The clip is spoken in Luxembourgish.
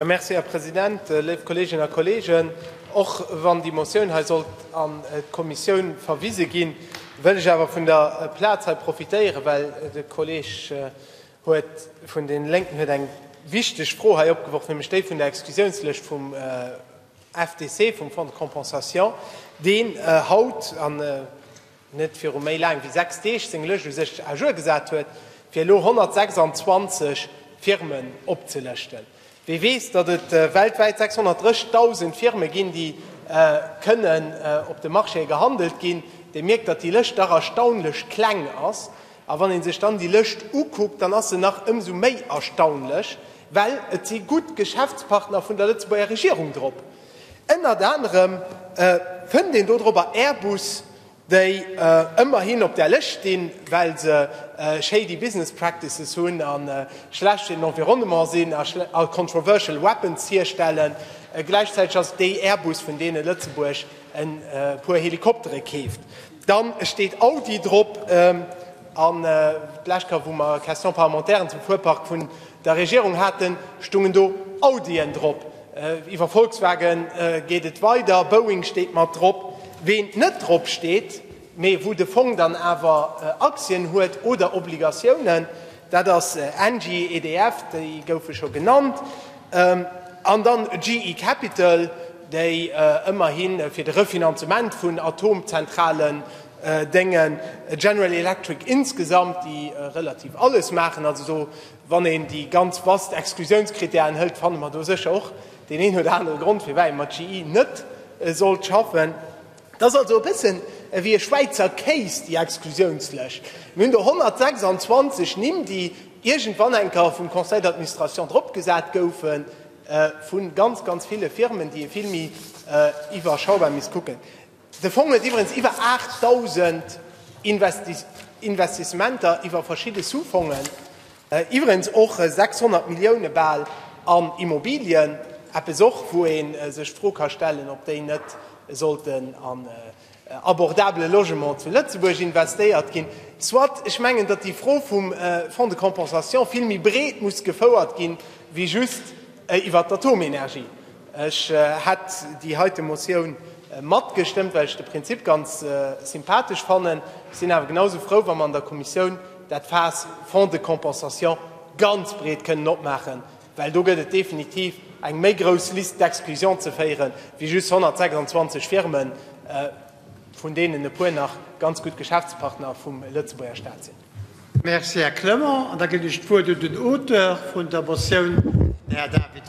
Merci, Här President. Léif Kolleeginnen a Kolleegen, och wann déi Motioun hei sollt an d'Kommissioun verwise ginn, wëll ech awer vun der Plaz hei profitéieren, well de Kolleeg vun deene Lénken huet eng wichteg Fro hei opgeworf, nämlech déi vun der Exklusiounslëscht vum FDC, vum Fonds de compensation, deen haut, net viru méi laang wéi sechs Deeg seng Lëscht u sech à jour gesat huet, fir elo 126 Firmen opzelëschten. Wie weess, datt et weltwäit 630.000 Firme ginn, déi kënnen op de Marchéë gehandelt ginn, dee mierkt, datt déi Lëscht dach erstaunlech kleng ass. A wann ee sech dann déi Lëscht ukuckt, dann ass se nach ëmsou méi erstaunlech, well et si gutt Geschäftspartner vun der Lëtzebuerger Regierung drop. Ënnert anerem fënnt een dodrobber Airbus, déi ëmmerhin op där Lëscht stinn, well se shady business practices hunn a schlecht fir den Environnement sinn a controversial weapons hierstellen. Gläichzäiteg ass et déi Airbus, vun deene Lëtzebuerg e puer Helikoptere keeft. Dann steet Audi drop. An d'lescht Kéier, wou mer Questions parlementairen zum Fuerpark vun der Regierung haten, stungen do Audien drop. Iwwer Volkswagen geet et weider, Boeing steet mat drop. Ween net drop steet, mee wou de Fong dann awer Aktien huet oder Obligatiounen, Dat ass Engie, EDF, déi goufe scho genannt, an dann GE Capital, déi ëmmerhi fir de Refinanzement vun Atomzentralen déngen, General Electric insgesamt, déi relativ alles maachen. Also do, wann een déi ganz vast Exklusiounscritèren hëlt, fanne mer do sécher och deen een oder anere Grond, firwat ee mat GE net sollt schaffen. Et ass also e bëssen ewéi e Schwäizer Kéis, déi Exklusiounslëscht. Mir hunn do 126 Nimm, déi iergendwann eng Kéier vum Conseil d'administration dropgesat goufe vu ganz, ganz ville Firmen, déi ee vill méi iwwerschaubar misst kucken. De Fong huet iwwerens iwwer 8.000 Investissementer iwwer verschidde Sous-fongen. Iwwregens och 600 Millioune bal an Immobilien, eppes och wou ee sech d'Fro ka stellen, ob déi net sollten an abordabele Logement zu Lëtzebuerg investéiert ginn. Soit, ech mengen, datt déi Fro vum Fonds de compensation vill méi breet muss gefouert gi wéi just iwwert d'Atomenergie. Ech hätt déi heite Motioun matgestëmmt, well ech de Prinzip ganz sympathesch fannen. Ech sinn awer genausou frou, wa mer an der Kommissioun, dat Faass Fonds de compensation ganz breet kënnen opmaachen, well do gëtt et definitiv eng méi grouss Liste d'exclusion ze féieren, wéi just 126 Firmen, vun deenen e puer nach ganz gutt Geschäftspartner vum Lëtzebuerger Staat sinn. Merci, Här Clement. An da ginn ech d'Wuert un den Auteur vun der Motioun, den Här David Wagner.